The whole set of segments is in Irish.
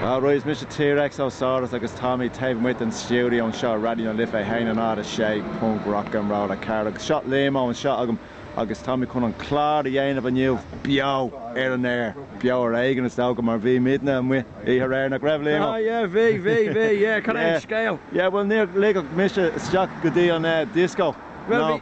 Is mise T-Rex Ó Saurus agus táim taobh amuigh den stiúideo anseo i Raidió na Life 106 Punk Rock and Roll a chara agus seo Liam Ó anseo agam agus táimid chun an clár a dhéanamh inniu beo ar an aer, beo ar éigean is dócha mar bhí muidne amuigh oíche aréir, nach raibh Liam ó? Ah yeah bhí bhí bhí yeah cad é an scéal? Yeah bhuel níor ligeadh mise isteach go dtí an disco, no.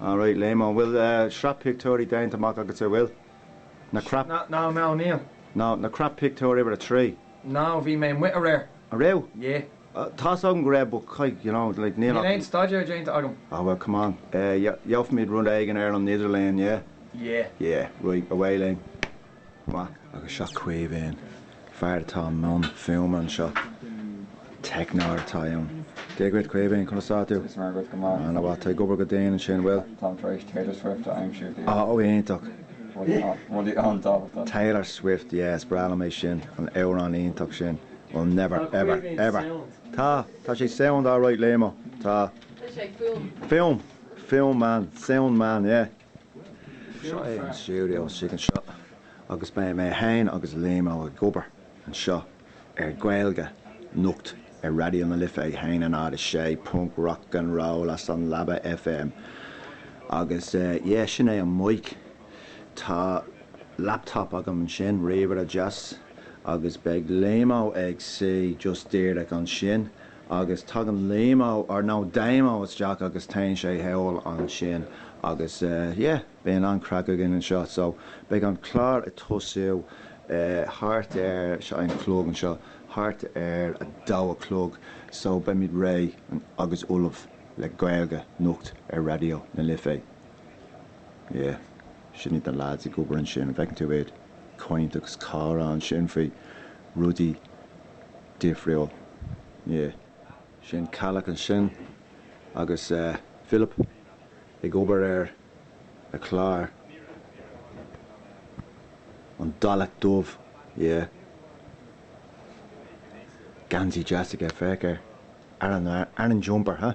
All right, Liam, an bhfuil sraith pictiúirí déanta amach agatsa an bhfuil? Na crap. No, no, níl. No, na crap pictiúir uimhir a trí. No, bhí mé amuigh aréir. An raibh? Yeah. Tá 'fhios agam go raibh but goile, you know, like, níl ach. Níl aon staidéar déanta agam. Ah, well, come on. Gheobhfaimid rud éigin ar an idirlíon, yeah? Yeah. Yeah, right, away linn. Maith agus seo Caoimhín. Fear atá i mbun fuaime anseo. Teicneoir atá ann. Dia dhuit Caoimhín, conas tá tú? Go maith go maith. Ana mhaith, tá tú ag obair go dian ansin, bhfuil? Táim tar éis Taylor Swift a aimsiú daoibh. Á, ó iontach. Rudaí an-tábhachtach. Taylor Swift, yeah, is breá liom é sin, an amhrán iontach sin. We'll never Tá ever Caoimhín ever sound. Tá, tá sé sound alright Liam-o. Tá. Tá sé ag fuaim. Fuaim! Fuaim man, sound man, yeah. Seo é an stiúideo istigh anseo agus beidh mé féin agus Liam Ó ag obair anseo ar Gaeilge Nocht ar Raidió na Life 106 Punk Rock and Roll as an Leaba FM agus yeah sin é an mic, tá laptop agam ansin, ríomhaire deas agus beidh Liam Ó ag suí just díreach ansin agus tagann Liam Ó, or no, Daim Ó isteach agus téann sé thall ansin agus yeah, bíonn an-chraic againn anseo. So, beidh an clár ag tosú thart ar, seo an clog anseo, thart ar a dó a chlog, so beimid réidh agus ullamh le Gaeilge Nocht ar Raidió na Life. Yeah, sin iad na lads ag obair ansin, an bhfeiceann tú iad? Caint agus comhrá ansin faoi rudaí. difriúil. Yeah. Sin Ceallach ansin agus eh Philip ag obair ar a chlár, an Dalach Dubh, yeah. Geansaí deas aige, féach air. Aran, aran jumper, huh?